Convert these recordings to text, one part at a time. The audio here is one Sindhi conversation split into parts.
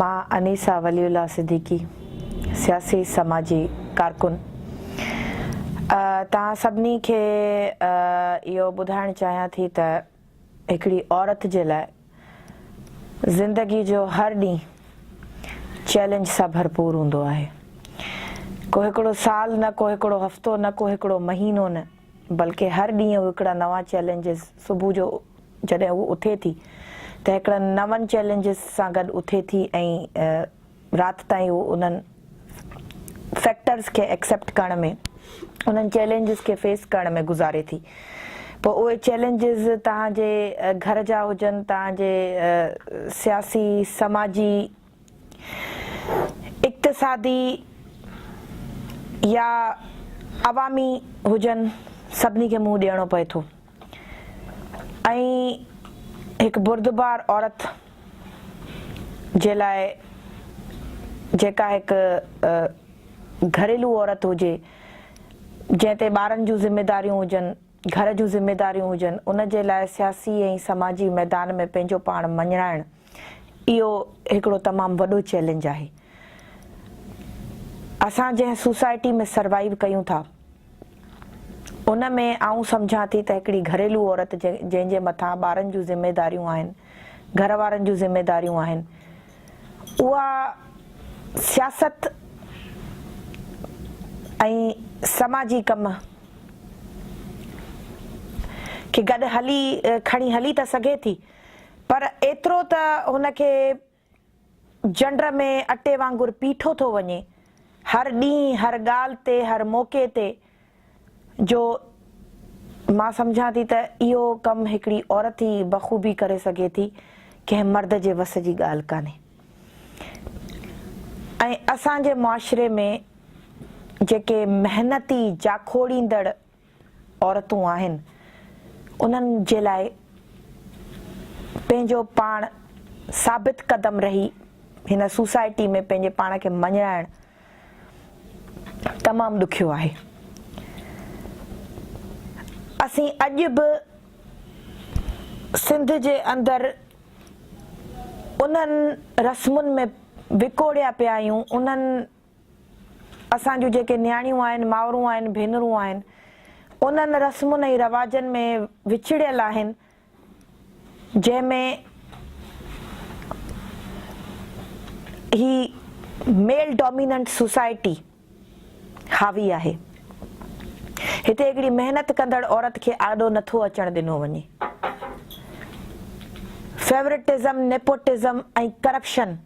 مان انيسه ولي الله صديقي سياسي سماجي ڪارڪن توهان سڀني کي اهو ٻڌائڻ چاهيان ٿي ته هڪڙي عورت جي لاء زندگي جو هر ڏينهن چئلينج سان ڀرپور هوندو آهي ڪو هڪڙو سال نه ڪو هڪڙو هفتو نه ڪو هڪڙو مهينو نه بلڪه هر ڏينهن هڪڙا نوان چئلينجز صبح جو جڏهن هوء اٿي ٿي ته هڪڙن نون چئلينجز سان گڏ اٿي ٿي ۽ رات تائين هوء انهن فيڪٽرز کي ايڪسيپٽ ڪرڻ ۾ انهن چئلينجز کي فيس ڪرڻ ۾ گذاري ٿي پوء اهي چئلينجز توهان جي گهر جا هجن توهان جي سياسي سماجي اقتصادي يا عوامي هجن سڀني کي منهن ڏيڻو پئي ٿو. ائين هڪ بردبار عورت جي لاء جيڪا هڪ گهريلو عورت هجي جنهن تي ٻارن جون ذميداريون هجن، گهر جون ذميداريون هجن ان جي لاء سياسي ۽ سماجي ميدان ۾ پنهنجو پاڻ مڃرائڻ اهو هڪڙو تمام وڏو چئلينج آهي. اسان جنهن سوسائٽي ۾ سروائيو ڪيون ٿا. ان ۾ آئون سمجهان ٿي ته هڪڙي گهريلو عورت جنهن جي مٿان ٻارن جون ذميداريون آهن، گهر وارن جون ذميداريون آهن، اها سياست ۽ سماجي ڪم کي گڏ هلي کڻي هلي ته سگهي ٿي پر ايترو ته هن کي جنڊ ۾ اٽي وانگر پيٺو ٿو وڃي، هر ڏينهن، هر ڳالهه تي، هر موقعي تي، جو مان سمجهان ٿي ته اهو ڪم هڪڙي عورت ئي بخوبي ڪري سگهي ٿي، ڪنهن مرد جي وس جي ڳالهه ڪانهي ۽ اسان جي معاشري ۾ جيڪي محنتي، جاکوڙيندڙ، عورتون آهن انهن جي لاء پنهنجو پاڻ ثابت قدم رهي هن سوسائٽي ۾ پنهنجي پاڻ کي مڃرائڻ تمام ڏکيو آهي اسين اڄ به سنڌ جي اندر انهن رسمن ۾ وڪوڙيا پيا آهيون انهن اسان جون جيڪي نياڻيون آهن، مائرون آهن، ڀينرون آهن، انهن رسمن ۽ رواجن ۾ وڇڙيل آهن، جنهن ۾ هي ميل ڊوميننٽ سوسائٽي حاوي آهي. هتي هڪڙي محنت ڪندڙ عورت کي آڏو نه ٿو اچڻ ڏنو وڃي. Favouritism, nepotism ۽ corruption.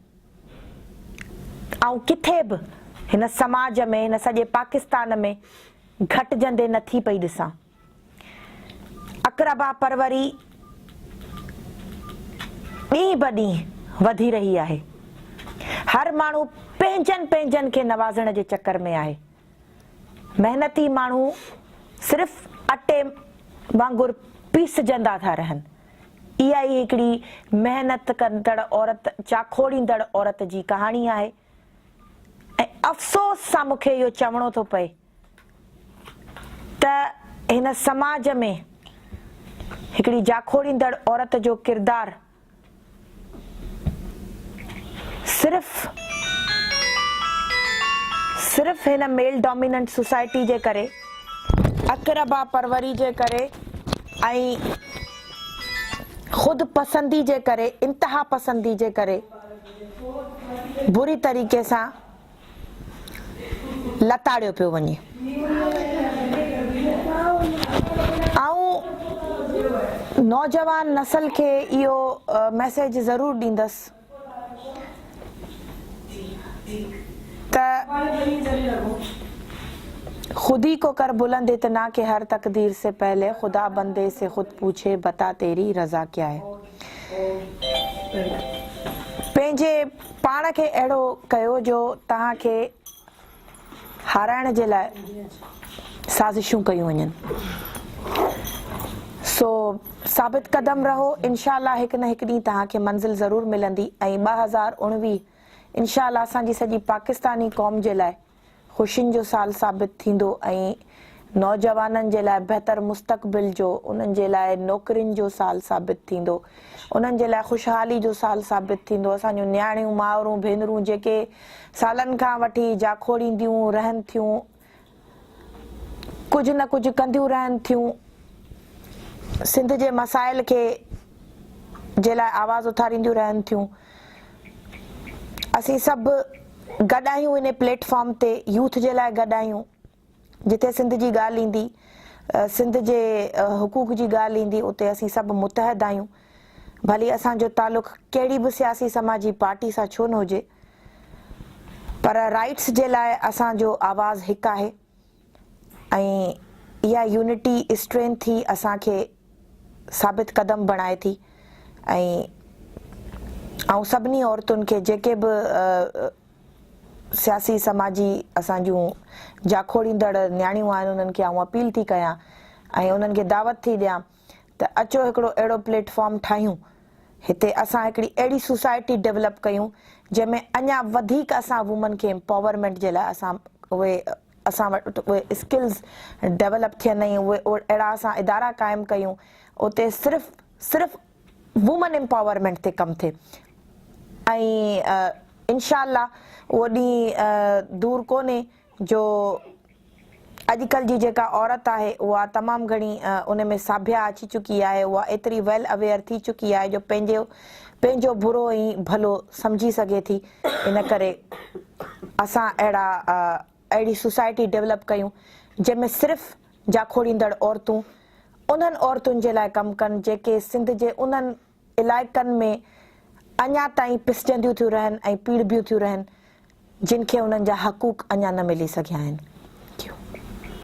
آئون ڪٿي به هن سماج ۾ هن سڄي پاڪستان ۾ گهٽجندي نه ٿي پئي ڏسان. اقربا پروري ڏينهن به ڏينهن وڌي رهي آهي. هر ماڻهو پنهنجن پنهنجن کي نوازڻ جي چڪر ۾ آهي. محنتي ماڻهو صرف اٽي وانگر پيسجندا ٿا رهن. اها ئي هڪڙي محنت ڪندڙ عورت، چاکوڙيندڙ عورت جي ڪهاڻي آهي ۽ افسوس سان مون کي اهو چوڻو ٿو پئي ته هن سماج ۾ هڪڙي جاکوڙيندڙ عورت جو ڪردار، صرف صرف هن ميل ڊوميننٽ سوسائٽي جي ڪري اقربا پروري جي ڪري ۽ خود پسندي جي ڪري انتها پسندي جي ڪري بري طريقي سان لتاڙيو پيو وڃي. آئون نوجوان نسل کي اهو ميسيج ضرور ڏيندس ته خودي ڪو ڪر بلند اتنا ڪه هر تقدير سي پهلي خدا بندي سي خود پوڇي بتا تيري رضا ڪيا هي. پنهنجي پاڻ کي اهڙو ڪيو جو توهان کي هارائڻ جي لاء سازشون ڪيون وڃن. سو ثابت قدم رهو انشاء الله هڪ نه هڪ ڏينهن توهان کي منزل ضرور ملندي ۽ ٻه هزار اوڻويهه انشاء الله اسان جي سڄي پاڪستاني قوم جي لاء خوشين جو سال ثابت ٿيندو ۽ نوجوانن جي لاء بهتر مستقبل جو، انهن جي لاء نوڪرين جو سال ثابت ٿيندو، انهن جي لاء خوشحالي جو سال ثابت ٿيندو، اسان جون نياڻيون، مائرون، ڀينرون جيڪي سالن کان وٺي جاکوڙينديون رهن ٿيون، ڪجهه نه ڪجهه ڪنديون رهن ٿيون، سنڌ جي مسائل کي جي لاء آواز اٿارينديون رهن ٿيون. اسين سڀ گڏ آهيون انهي پليٽ فارم تي يوٿ جي لاء گڏ آهيون جتي سنڌ جي ڳالهه ايندي سنڌ جي حقوق جي ڳالهه ايندي اتي اسين سڀ متحد آهيون ڀلي اسان جو تعلق ڪهڙي به سياسي سماجي پارٽي سان ڇو نه هجي پر رائٽس جي لاء اسان جو آواز هڪ آهي. ۽ اها يونٽي اسٽرينٿ ئي اسان کي ثابت قدم بڻائي ٿي ۽ آئون سڀني عورتن کي جيڪي به سياسي سماجي اسان جون جاکوڙيندڙ نياڻيون آهن انهن کي آئون اپيل ٿي ڪيان ۽ انهن کي دعوت ٿي ڏيان ته اچو هڪڙو اهڙو پليٽ فارم ٺاهيون هتي اسان هڪڙي اهڙي سوسائٽي ڊيولپ ڪيون جنهن ۾ اڃا وڌيڪ اسان وومن کي امپاورمينٽ جي لاء اسان اهي اسان وٽ اهي اسڪلز ڊيولپ ٿين ۽ اهي اهڙا اسان ادارا قائم ڪيون اتي صرف صرف وومن امپاورمينٽ تي ڪم ٿئي ۽ انشاء الله اهو ڏينهن دور ڪونهي جو اڄڪلھ جي جيڪا عورت آھي اھا تمام گھڻي ان ۾ ساڀيا اچي چڪي آھي اھا ايتري ويل اويئر ٿي چڪي آھي جو پنھنجو پنھنجو برو ئي ڀلو سمجھي سگھي ٿي ان ڪري اسان اھڙا اھڙي سوسائٽي ڊولپ ڪيون جنھن ۾ صرف جاکوڙيندڙ عورتون انھن عورتن جي لاء ڪم ڪن جيڪي سنڌ جي انھن علائقن ۾ اڃا تائين پسجنديون ٿيون رهن ۽ پيڙهبيون ٿيون رهن جن کي انهن جا حقوق اڃا نه ملي سگهيا آهن.